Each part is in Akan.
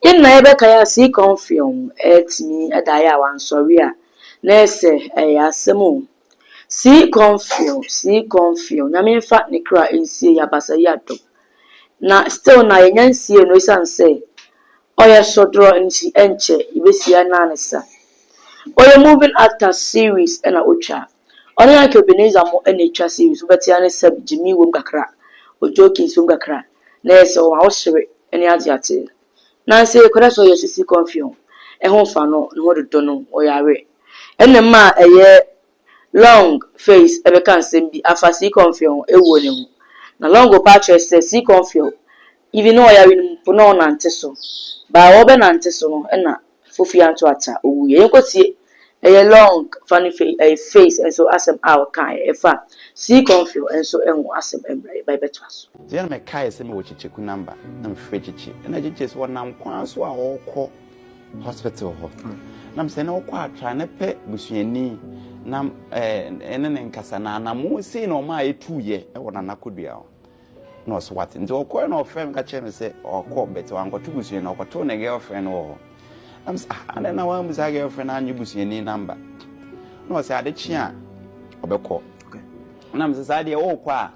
Yɛn nyinaa yɛbɛkae a Sii Kɔmfeɔn atumi ada ayɛ a wansɔre a, na ɛsɛ ɛyɛ asɛm o. Sii Kɔmfeɔn, Sii Kɔmfeɔn, Nyame mfa ne kra nsie yɛ abasa yi adom. Na still na yɛnya nsiee no ɛsiane sɛ ɔyɛ sodorɔ nti ɛnkyɛ yɛbɛsie anaa ne sa. Ɔyɛ moving actor series ɛna ɔtwaa. Ɔne Ike Ebenezer mo na etwa series wobɛte ane sɛb gyimii wom kakra ojokins wom kakra na ɛyɛ sɛ ɔma wo sere ne ade ate nanso ekɔda so yɛ sisi kɔnfeɔn ɛho nfa no ne ho dodo no ɔyare ɛna ɛma ɛyɛ Long face ɛbɛka nsɛm bi afa sii kɔnfeɔn ɛwuo no ho na Long ɔpɛ akyerɛ sɛ sii kɔnfeɔn even ne ɔyare no mpo na ɔnante so baa ɔbɛnante so no ɛna Fofi anto ata owu yɛ. Yɛnkɔ tie. Ɛyɛ long funny face ɛyɛ face nso asɛm a ɔkaeɛ ɛfa Sea Cornfield nso ho asɛm ɛmmerɛ yɛba yɛbɛtoa so. Sɛ na mekaeɛ sɛ mewɔ Kyekyeku number na mefrɛ Kyekye na Kyekye sɛ ɔnam kwan so a ɔrekɔ hospital hɔ na mesɛ na ɔkɔ atra na pɛ busuani na ɛɛ ɛne ne nkasa na anamo sei na ɔmaa ɛtuiɛ ɛwɔ Nana Kodua hɔ. na ɔsɛ wate nti ɔkɔɛ na ɔfrɛ me ka kyerɛ me sɛ ɔkɔ bɛtɛ wankɔto busuani na ɔkɔtoo ne girlfriend wɔ hɔ na mesɛ ah adɛn na wanbu saa girlfriend na anyɛ busuani namba na ɔsɛ ade kye a ɔbɛkɔ na mesɛ saa deɛ ɔrekɔ a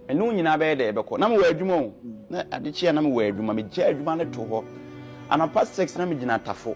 ɛne wo nyinaa bɛyɛ dɛ ɛbɛkɔ na mewɔ adwuma o na ade kye a na mewɔ adwuma megya adwuma no to hɔ anapa six na megyina tafo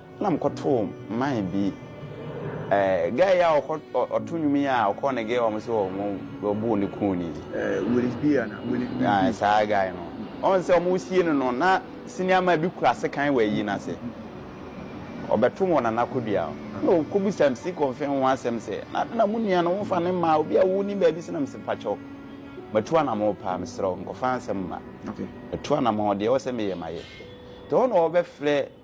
Nna mokɔtoo mine bi eh guy yi a ɔkɔ ɔto nwom yi a ɔkɔɔ ne girl hɔ sɛ ɔmo bɔɔ ne kɔn ni. Eh Willis B anaa Willis B. Ah saa guy no. Ɔn sɛ ɔmo sie no no na senior man bi kura sekan wɔ ayi no ase. Ɔbɛto wɔ Nana Kodua hɔ. Ɛna ɔkɔ bisa MC Kɔmfee ho asɛm sɛ na adeɛ na mo nua no womfa no mmaa obi a wonni baabi sɛ na mese mpakyɛw matu anamɔn paa meserɛ wo nkɔfa nsɛm mma. Matu anamɔn deɛ ɛwɔ sɛ meyɛ mayɛ. Nti ɛhɔ na ɔbɛfrɛ.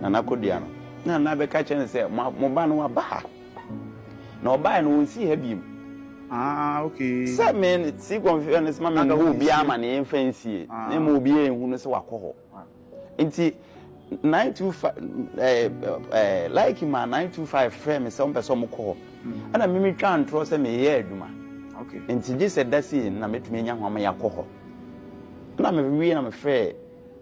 Nana Kodua no, na Nana bɛka kyerɛ no sɛ, Mo ba no waba ha, na ɔbaeɛ no ɔnsii ha bio. Sɛ me no, tea confusion no soma me mmɔ obiara amaneɛ mfa nsie, na mmom obiara nhu no sɛ wakɔ hɔ. Nti 925, Laiki maa 925 frɛɛ me sɛ wɔpɛ sɛ wɔkɔ hɔ. Ɛna me metwaa ntorɔ sɛ mereyɛ adwuma, nti gye sɛ da sei no na mɛtumi anya hɔ ama yɛakɔ hɔ. Ɛna mewie na mefrɛɛ.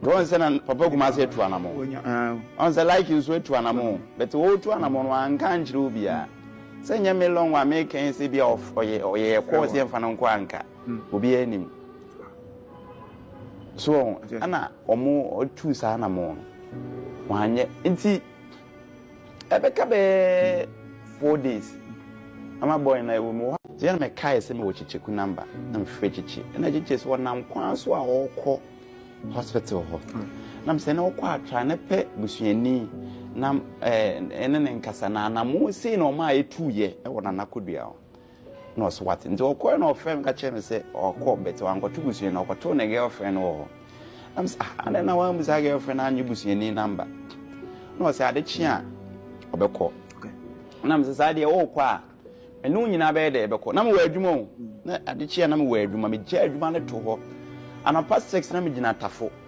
Nti wɔn sɛ na papa kumase atu anamɔ wɔn sɛ like nso atu anamɔ bɛtɛ wɔtu anamɔ no anka ankyerɛ obiara sɛ nyɛ me long wa me kɛn sɛ bi a ɔyɛ ɔyɛ ɛkɔɔ sɛ mfa no nkɔ anka obiara nim so ɛna wɔn ɔtu saa anamɔ no wɔn anyɛ nti. ɛbɛka bɛyɛ four days ama bɔɔl na ɛwɔ mu hɔ deɛ na mɛkae sɛ mewɔ kyekyeku namba na mefrɛ kyekye ɛna kyekye sɛ ɔnam kwan so a ɔrekɔ hospital hɔ na mesɛ na ɔkɔ atra na pɛ busuani na ɛne ne nkasa na anamo sei na ɔma a ɛtuuyɛ ɛwɔ nanakodua hɔ na ɔsɛ wate nti ɔkɔɛ na ɔfrɛ me ka kyerɛ me sɛ ɔkɔ bɛtɛ wankɔto busuani na ɔkɔtoo ne girlfriend wɔ hɔ na mesɛ ah adɛn na wanbu saa girlfriend na anyɛ busuani namba na ɔsɛ ade kye a ɔbɛkɔ na mesɛ saa deɛ ɔrekɔ a ɛne wo nyinaa bɛyɛ dɛ ɛbɛkɔ na mewɔ adwuma o na ade kye a na mewɔ adwuma megya adwuma no to hɔ anapa six na megyina tafo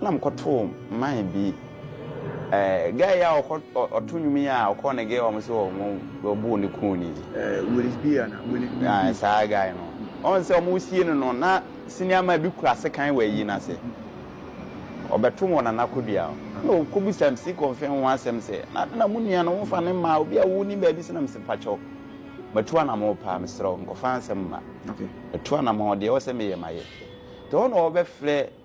Nna mokɔtoo mine bi eh guy yi a ɔkɔ ɔto nnwom yi a ɔkɔɔ ne girl hɔ sɛ ɔmo bɔɔ ne kɔn ni. Eh Willis B anaa Willis B. Ah saa guy no. Ɔn sɛ ɔmo sie no no na senior man bi kura sekan wɔ ayi no ase. Ɔbɛto wɔ Nana Kodua hɔ. Nna ɔkɔ bisa MC Kɔmfɛn ho asɛm sɛ na ade na mo nua no womfa no mmaa obi a wonni baabi sɛ na mese mpakyɛw matu anamɔn paa mesrɛ wo nkɔfa nsɛm mma. Matu anamɔn deɛ ɛwɔ sɛ meyɛ mayɛ. Nti hɔ na ɔbɛfrɛ.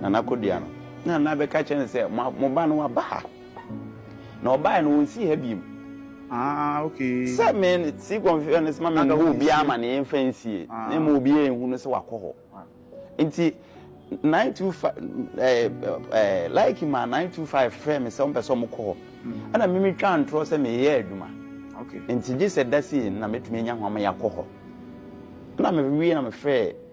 Nana Kodua no, na Nana bɛka kyerɛ no sɛ, Mo ba no waba ha, na ɔbaeɛ no ɔnsii ha bio. Ah, okay. Sɛ me si kɔnfeɛ no sɛ ma menka hɔ obiara ma ne yɛmfa nsie, na ɛma obiara nhu no sɛ wakɔ hɔ. Nti 925, Laiki maa 925 frɛɛ me sɛ wɔmpɛ sɛ wɔkɔ hɔ. Ɛna me metwaa ntorɔ sɛ mereyɛ adwuma. Nti gye sɛ da sei na mɛtumi anya hɔ ama yɛakɔ hɔ. Ɛna mewie na mefrɛɛ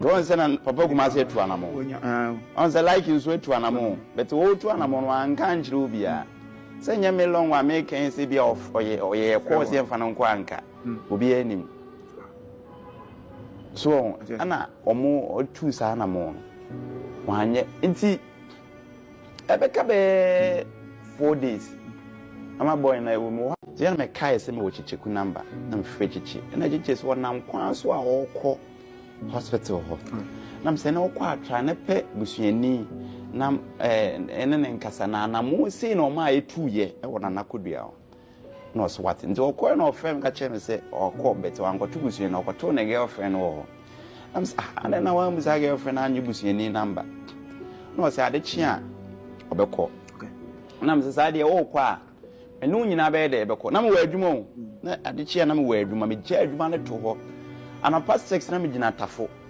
wɔn sɛ na papa kumase atu anamɔ wɔn sɛ like nso atu anamɔ bɛtɛ wɔtu anamɔ no anka nkyerɛ obiara sɛ nyɛ me lɔn wa me kɛn sɛ bi a ɔyɛ ɔyɛ kɔɔ sɛ nfa no nkɔ anka obiara nim so ɛna wɔn ɔtu saa anamɔ no wɔn anyɛ nti. ɛbɛka bɛyɛ four days ama bɔɔl na ɛwɔ mu hɔ deɛ na mɛkae sɛ mewɔ kyekyeku namba na mefrɛ kyekye ɛna kyekye sɛ ɔnam kwan so a ɔrekɔ hospital hɔ na mesɛ na ɔkɔ atra na pɛ busuani na ɛne ne nkasa na anamo sei na ɔma ɛtuuyɛ ɛwɔ nanakodua hɔ na ɔsɛ wate nti ɔkɔɛ na ɔfrɛ me ka kyerɛ me sɛ ɔkɔ bɛtɛ wankɔto busuani na ɔkɔtoo ne girlfriend wɔ hɔ na mesɛ ah adɛn na wanbu saa girlfriend na anyɛ busuani namba na ɔsɛ ade kye a ɔbɛkɔ na mesɛ saa deɛ ɔrekɔ a ɛne wo nyinaa bɛyɛ dɛ ɛbɛkɔ na mewɔ adwuma o na ade kye a na mewɔ adwuma megya adwuma no to hɔ anapa six na megyina tafo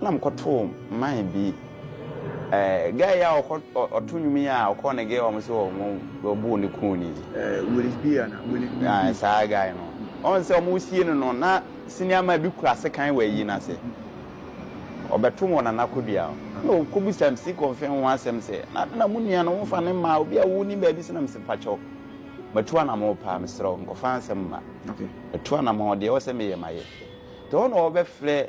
Nna mokɔtoo man bi eh guy yi a ɔkɔ ɔto nwom yi a ɔkɔɔ ne girl hɔ sɛ ɔmo bɔɔ ne kuu no yi. Eh Willie B anaa Willie B. Ah saa guy no. Ɔn sɛ ɔmo sie no no na senior man bi kura sekan wɔ ayi no ase. Ɔbɛto wɔ Nana Kodua hɔ. Nna ɔkɔ bisa MC Kɔmfɛn ho asɛm sɛ na na mo nua no wofa no mma obi a wo nim baabi sɛ na mese mpakyɛw matu anamɔn paa mesrɛ wo nkɔfa nsɛm mma. Matu anamɔn deɛ ɛwɔ sɛ meyɛ mayɛ. Nti hɔ na ɔbɛfrɛ.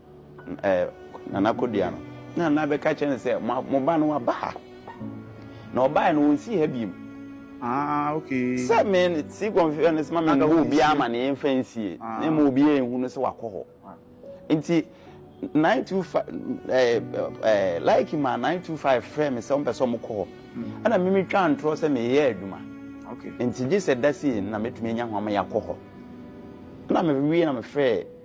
Nana Kodua no, na Nana bɛka kyerɛ no sɛ, Mo ba no waba ha, na ɔbaeɛ no, ɔnsi ha bio. Sɛ me no, tea confusion no soma me mmɔ obiara amaneɛ mfa nsie, na mmom obiara nhu no sɛ wakɔ hɔ. Nti, 925, Laiki maa 925 frɛɛ me sɛ wɔmpɛ sɛ wɔkɔ hɔ. Ɛna me metwaa ntorɔ sɛ mereyɛ adwuma. Nti gye sɛ da sei no na mɛtumi anya hɔ ama yɛakɔ hɔ. Ɛna mewie na mefrɛɛ.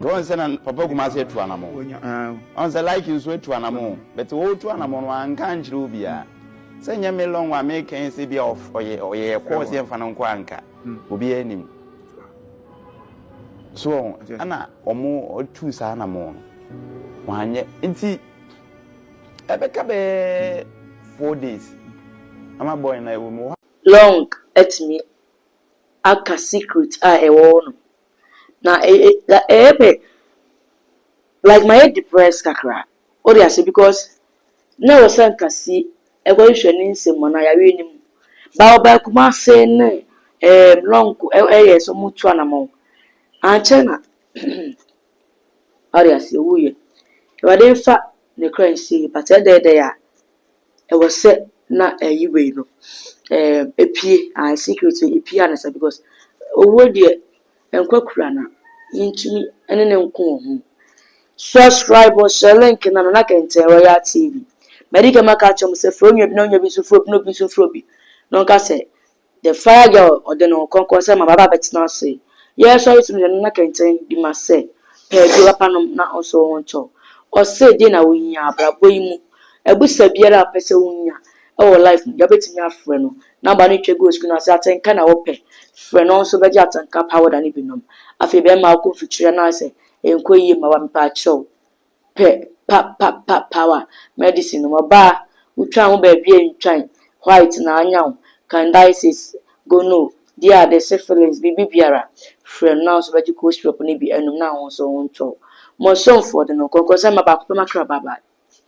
wɔn sɛ na papa kumase atu anamɔ wɔn sɛ like nso atu anamɔ bɛtɛ wɔtu anamɔ no anka nkyerɛ obiara sɛ nyɛ me lɔn wa me kɛn sɛ bi a ɔyɛ ɔyɛ kɔɔ sɛ nfa no nkɔ anka obiara nim so wɔn ɛna wɔn ɔtu saa anamɔ no wɔn anyɛ nti ɛbɛka bɛɛ four days ama bɔyɛ na ɛwɔ mu hɔ. long atumi aka secret a ɛwɔ hɔ no na ɛyɛ me like mayɛ depressed kakra wote ase because na ɛwɔ sɛ nka si ɛkɔ hwehwɛ ne nsɛm mu anaa yareɛ no mu ba ɔbaa Kumase ne ɛɛm lɔnko ɛyɛ sɛ ɔmo tu anamɔn ankyɛ na wote ase owuiɛ Awurade nfa ne kra nsie but ɛdɛɛdɛɛ a. ɛwɔ sɛ na ɛyi wei no ɛɛ epie ae secret no epie ansa because owuo deɛ nkwa kura na yɛntumi ne no nko wɔ ho subscribe or share link na nana kɛntɛn royal tv mɛdi kama ka kyɛm sɛ furo onua bi na onua bi nso furo bi na obi nso furo bi na ɔnka sɛ The Fire Girl Ɔde Ne Ho Kronkron Sɛ Ma Baba Bɛtena Ase Yɛɛ Sɔre Som Hwɛ No Na Kɛntɛn Bi Ma Sɛ Pɛɛ Bi Papa Nom Na Ɔnsɔ Wo Ho Nkyɛ Wo Ɔse Deɛ Na Wo Hia Abrabɔ Yi Mu Abusa Biara A Wo Pɛ Sɛ Wo Nya Wɔ Life Mu Deɛ Wo Bɛtumi Afrɛ No Namba No Twa Gu Wo Screen Ase Atenka Na Wo Pɛ Frɛ No Ɔnso Bɛgye Atenka Powder No Bi Nom Afei Bɛma Wo Kɔ Mfikyire Anaasɛ Ɛnkɔ Yie Mma Wo A Mepaakyɛw pɛ pa pa pa power medicine nom ɔbaa wo twa ho baabi a ntwan white na anya wo candices gono di ade syphilis biribi biara frɛ no na wo nso bɛgye cold syrup no bi anum na wo nso wo ntɔ wo mo somfoɔ de no nkɔnkɔnsɛn mma baako pɛ ma kra bye bye.